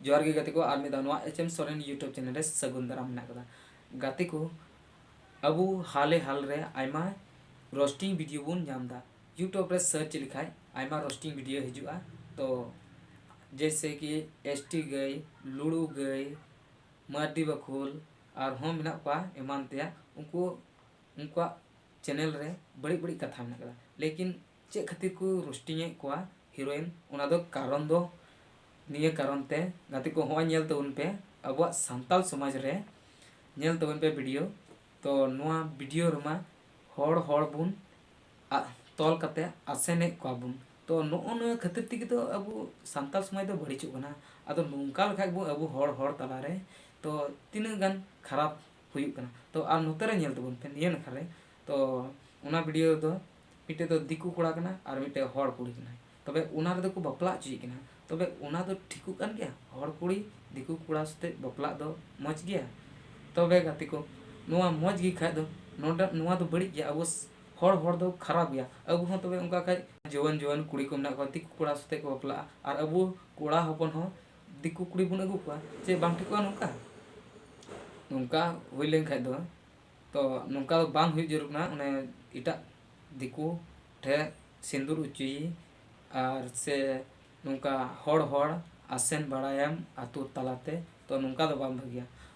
ᱡᱚᱦᱟᱨ ᱜᱮ ᱜᱟᱛᱮ ᱠᱚ ᱟᱨ ᱢᱤᱫ ᱫᱷᱟᱣ ᱱᱚᱣᱟ H M Soren YouTube channel ᱨᱮ ᱥᱟᱹᱜᱩᱱ ᱫᱟᱨᱟᱢ ᱢᱮᱱᱟᱜ ᱟᱠᱟᱫᱟ ᱜᱟᱛᱮ ᱠᱚ ᱟᱵᱚ ᱦᱟᱞᱮ ᱦᱟᱞ ᱨᱮ ᱟᱭᱢᱟ ᱨᱳᱥᱴᱤᱝ ᱵᱷᱤᱰᱤᱭᱳ ᱵᱚᱱ ᱧᱟᱢ ᱮᱫᱟ ᱤᱭᱩᱴᱩᱵᱽ ᱨᱮ ᱥᱟᱨᱪ ᱞᱮᱠᱷᱟᱡ ᱟᱭᱢᱟ ᱨᱳᱥᱴᱤᱝ ᱵᱷᱤᱰᱤᱭᱳ ᱦᱤᱡᱩᱜᱼᱟ ᱛᱚ ᱡᱮᱭᱥᱮ ᱠᱤ ᱮᱥ ᱴᱤ ᱜᱟᱹᱭ ᱞᱩᱲᱩ ᱜᱟᱹᱭ ᱢᱟᱨᱰᱤ ᱵᱟᱠᱷᱳᱞ ᱟᱨᱦᱚᱸ ᱢᱮᱱᱟᱜ ᱠᱚᱣᱟ ᱮᱢᱟᱱ ᱛᱮᱭᱟᱜ ᱩᱱᱠᱩ ᱩᱱᱠᱩᱣᱟᱜ ᱪᱮᱱᱮᱞ ᱨᱮ ᱵᱟᱹᱲᱤᱡ ᱵᱟᱹᱲᱤᱡ ᱠᱟᱛᱷᱟ ᱢᱮᱱᱟᱜ ᱟᱠᱟᱫᱟ ᱞᱮᱠᱤᱱ ᱪᱮᱫ ᱠᱷᱟᱹᱛᱤᱨ ᱠᱚ ᱨᱳᱥᱴᱤᱝ ᱮᱫ ᱠᱚᱣᱟ ᱦᱤᱨᱳᱭᱤᱱ ᱚᱱᱟ ᱫᱚ ᱠᱟᱨᱚᱱ ᱫᱚ ᱱᱤᱭᱟᱹ ᱠᱟᱨᱚᱱ ᱛᱮ ᱜᱟᱛᱮ ᱠᱚ ᱦᱚᱸᱜᱼᱚᱭ ᱧᱮᱞ ᱛᱟᱵᱚᱱ ᱯᱮ ᱟᱵᱚᱣᱟᱜ ᱥᱟᱱᱛᱟᱞ ᱥᱚᱢᱟᱡᱽ ᱨᱮ ᱧᱮᱞ ᱛᱟᱵᱚᱱ ᱯᱮ ᱵᱷᱤᱰᱤᱭᱳ ᱛᱚ ᱱᱚᱣᱟ ᱵᱷᱤᱰᱤᱭᱳ ᱨᱮᱢᱟ ᱦᱚᱲ ᱦᱚᱲ ᱵᱚᱱ ᱟᱜ ᱛᱚᱞ ᱠᱟᱛᱮ ᱟᱥᱮᱱᱮᱫ ᱠᱚᱣᱟ ᱵᱚᱱ ᱛᱚ ᱱᱚᱜᱼᱚ ᱱᱚᱣᱟ ᱠᱷᱟᱹᱛᱤᱨ ᱛᱮᱜᱮ ᱛᱚ ᱟᱵᱚ ᱥᱟᱱᱛᱟᱞ ᱥᱚᱢᱟᱡᱽ ᱫᱚ ᱵᱟᱹᱲᱤᱡᱚᱜ ᱠᱟᱱᱟ ᱟᱫᱚ ᱱᱚᱝᱠᱟ ᱞᱮᱠᱷᱟᱱ ᱵᱚᱱ ᱟᱵᱚ ᱦᱚᱲ ᱦᱚᱲ ᱛᱟᱞᱟ ᱨᱮ ᱛᱚ ᱛᱤᱱᱟᱹᱜ ᱜᱟᱱ ᱠᱷᱟᱨᱟᱯ ᱦᱩᱭᱩᱜ ᱠᱟᱱᱟ ᱛᱚ ᱟᱨ ᱱᱚᱛᱮ ᱨᱮ ᱧᱮᱞ ᱛᱟᱵᱚᱱ ᱯᱮ ᱱᱤᱭᱟᱹ ᱱᱟᱠᱷᱟ ᱨᱮ ᱛᱚ ᱚᱱᱟ ᱵᱷᱤᱰᱤᱭᱳ ᱨᱮᱫᱚ ᱢᱤᱫᱴᱮᱡ ᱫᱚ ᱫᱤᱠᱩ ᱠᱚᱲᱟ ᱠᱟᱱᱟᱭ ᱟᱨ ᱢᱤᱫᱴᱮᱡ ᱦᱚᱲ ᱠᱩᱲᱤ ᱠᱟᱱᱟᱭ ᱛᱚᱵᱮ ᱚᱱᱟ ᱨᱮᱫᱚ ᱠᱚ ᱵᱟᱯᱞᱟ ᱦᱚᱪᱚᱭᱮ ᱠᱟᱱᱟ ᱛᱚᱵᱮ ᱚᱱᱟ ᱫᱚ ᱴᱷᱤᱠᱚᱜ ᱠᱟᱱ ᱜᱮᱭᱟ ᱦᱚᱲ ᱠᱩᱲᱤ ᱫᱤᱠᱩ ᱠᱚᱲᱟ ᱥᱟᱛᱮ ᱵᱟᱯᱞᱟᱜ ᱫᱚ ᱢᱚᱡᱽ ᱜᱮᱭᱟ ᱛᱚᱵᱮ ᱜᱟᱛᱮ ᱠᱚ ᱱᱚᱣᱟ ᱢᱚᱡᱽ ᱜᱮ ᱠᱷᱟᱡ ᱫᱚ ᱱᱚᱰᱮ ᱱᱚᱣᱟ ᱫᱚ ᱵᱟᱹᱲᱤᱡ ᱜᱮᱭᱟ ᱟᱵᱚ ᱦᱚᱲ ᱦᱚᱲ ᱫᱚ ᱠᱷᱟᱨᱟᱯ ᱜᱮᱭᱟ ᱟᱵᱚ ᱦᱚᱸ ᱛᱚᱵᱮ ᱚᱱᱠᱟ ᱠᱷᱟᱡ ᱡᱩᱣᱟᱹᱱ ᱡᱩᱣᱟᱹᱱ ᱠᱩᱲᱤ ᱠᱚ ᱢᱮᱱᱟᱜ ᱠᱚᱣᱟ ᱫᱤᱠᱩ ᱠᱚᱲᱟ ᱥᱟᱛᱮ ᱠᱚ ᱵᱟᱯᱞᱟᱜᱼᱟ ᱟᱨ ᱟᱵᱚ ᱠᱚᱲᱟ ᱦᱚᱯᱚᱱ ᱦᱚᱸ ᱫᱤᱠᱩ ᱠᱩᱲᱤ ᱵᱚᱱ ᱟᱹᱜᱩ ᱠᱚᱣᱟ ᱪᱮᱫ ᱵᱟᱝ ᱴᱷᱤᱠᱚᱜᱼᱟ ᱱᱚᱝᱠᱟ ᱱᱚᱝᱠᱟ ᱦᱩᱭ ᱞᱮᱱ ᱠᱷᱟᱡ ᱫᱚ ᱛᱚ ᱱᱚᱝᱠᱟ ᱫᱚ ᱵᱟᱝ ᱦᱩᱭᱩᱜ ᱡᱟᱹᱨᱩᱲ ᱠᱟᱱᱟ ᱚᱱᱮ ᱮᱴᱟᱜ ᱫᱤᱠᱩ ᱴᱷᱮᱡ ᱥᱤᱸᱫᱩᱨ ᱚᱪᱚᱭᱮ ᱟᱨ ᱥᱮ ᱱᱚᱝᱠᱟ ᱦᱚᱲ ᱦᱚᱲ ᱟᱥᱮᱱ ᱵᱟᱲᱟᱭᱮᱢ ᱟᱛᱳ ᱛᱟᱞᱟᱛᱮ ᱛᱚ ᱱᱚᱝᱠᱟ ᱫᱚ ᱵᱟᱝ ᱵᱷᱟᱹᱜᱤᱭᱟ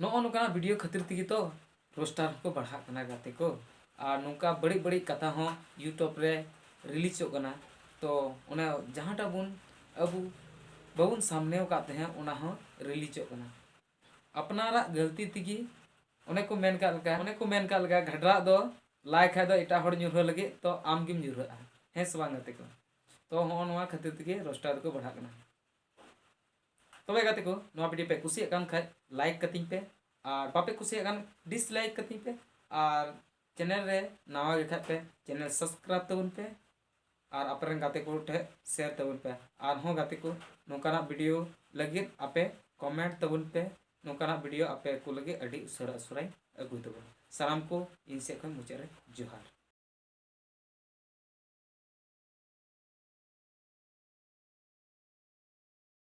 ᱱᱚᱜᱼᱚ ᱱᱚᱝᱠᱟᱱᱟᱜ ᱵᱷᱤᱰᱤᱭᱳ ᱠᱷᱟᱹᱛᱤᱨ ᱛᱮᱜᱮ ᱛᱚ ᱨᱳᱥᱴᱟᱨ ᱦᱚᱸᱠᱚ ᱵᱟᱲᱦᱟᱜ ᱠᱟᱱᱟ ᱜᱟᱛᱮ ᱠᱚ ᱟᱨ ᱱᱚᱝᱠᱟ ᱵᱟᱹᱲᱤᱡ ᱵᱟᱹᱲᱤᱡ ᱠᱟᱛᱷᱟ ᱦᱚᱸ ᱤᱭᱩᱴᱩᱵᱽ ᱨᱮ ᱨᱤᱞᱤᱡᱚᱜ ᱠᱟᱱᱟ ᱛᱚ ᱚᱱᱟ ᱡᱟᱦᱟᱸᱴᱟᱜ ᱵᱚᱱ ᱟᱵᱚ ᱵᱟᱵᱚᱱ ᱥᱟᱢᱱᱮ ᱟᱠᱟᱫ ᱛᱟᱦᱮᱸᱫ ᱚᱱᱟ ᱦᱚᱸ ᱨᱤᱞᱤᱡᱚᱜ ᱠᱟᱱᱟ ᱟᱯᱱᱟᱨᱟᱜ ᱜᱟᱹᱞᱛᱤ ᱛᱮᱜᱮ ᱚᱱᱮ ᱠᱚ ᱢᱮᱱ ᱠᱟᱜ ᱞᱮᱠᱟ ᱚᱱᱮ ᱠᱚ ᱢᱮᱱ ᱠᱟᱜ ᱞᱮᱠᱟ ᱜᱷᱟᱰᱨᱟᱜ ᱫᱚ ᱞᱟᱭ ᱠᱷᱟᱡ ᱫᱚ ᱮᱴᱟᱜ ᱦᱚᱲ ᱧᱩᱨᱦᱟᱹ ᱞᱟᱹᱜᱤᱫ ᱛᱚ ᱟᱢ ᱜᱮᱢ ᱧᱩᱨᱦᱟᱹᱜᱼᱟ ᱦᱮᱸ ᱥᱮ ᱵᱟᱝ ᱜᱟᱛᱮ ᱠᱚ ᱛᱚ ᱦᱚᱸᱜᱼᱚ ᱱᱚᱣᱟ ᱠᱷᱟᱹᱛᱤᱨ ᱛᱮᱜᱮ ᱨᱳᱥᱴᱟᱨ ᱫᱚᱠᱚ ᱵᱟᱲᱦᱟᱜ ᱠᱟᱱᱟ ᱛᱚᱵᱮ ᱜᱟᱛᱮ ᱠᱚ ᱱᱚᱣᱟ ᱵᱷᱤᱰᱤᱭᱳ ᱯᱮ ᱠᱩᱥᱤᱭᱟᱜ ᱠᱟᱱ ᱠᱷᱟᱡ ᱞᱟᱭᱤᱠ ᱠᱟᱹᱛᱤᱧ ᱯᱮ ᱟᱨ ᱵᱟᱯᱮ ᱠᱩᱥᱤᱭᱟᱜ ᱠᱟᱱ ᱰᱤᱥᱞᱟᱭᱤᱠ ᱠᱟᱹᱛᱤᱧ ᱯᱮ ᱟᱨ ᱪᱮᱱᱮᱞ ᱨᱮ ᱱᱟᱣᱟ ᱜᱮ ᱠᱷᱟᱡ ᱯᱮ ᱪᱮᱱᱮᱞ ᱥᱟᱵᱥᱠᱨᱟᱭᱤᱵ ᱛᱟᱵᱚᱱ ᱯᱮ ᱟᱨ ᱟᱯᱮ ᱨᱮᱱ ᱜᱟᱛᱮ ᱠᱚ ᱴᱷᱮᱡ ᱥᱮᱭᱟᱨ ᱛᱟᱵᱚᱱ ᱯᱮ ᱟᱨᱦᱚᱸ ᱜᱟᱛᱮ ᱠᱚ ᱱᱚᱝᱠᱟᱱᱟᱜ ᱵᱷᱤᱰᱤᱭᱳ ᱞᱟᱹᱜᱤᱫ ᱟᱯᱮ ᱠᱚᱢᱮᱱᱴ ᱛᱟᱵᱚᱱ ᱯᱮ ᱱᱚᱝᱠᱟᱱᱟᱜ ᱵᱷᱤᱰᱤᱭᱳ ᱟᱯᱮ ᱠᱚ ᱞᱟᱹᱜᱤᱫ ᱟᱹᱰᱤ ᱩᱥᱟᱹᱨᱟ ᱩᱥᱟᱹᱨᱟᱧ ᱟᱹᱜᱩᱭ ᱛᱟᱵᱚᱱᱟ ᱥᱟᱱᱟᱢ ᱠᱚ ᱤᱧ ᱥᱮᱫ ᱠᱷᱚᱱ ᱢᱩᱪᱟᱹᱫ ᱨᱮ ᱡᱚᱦᱟᱨ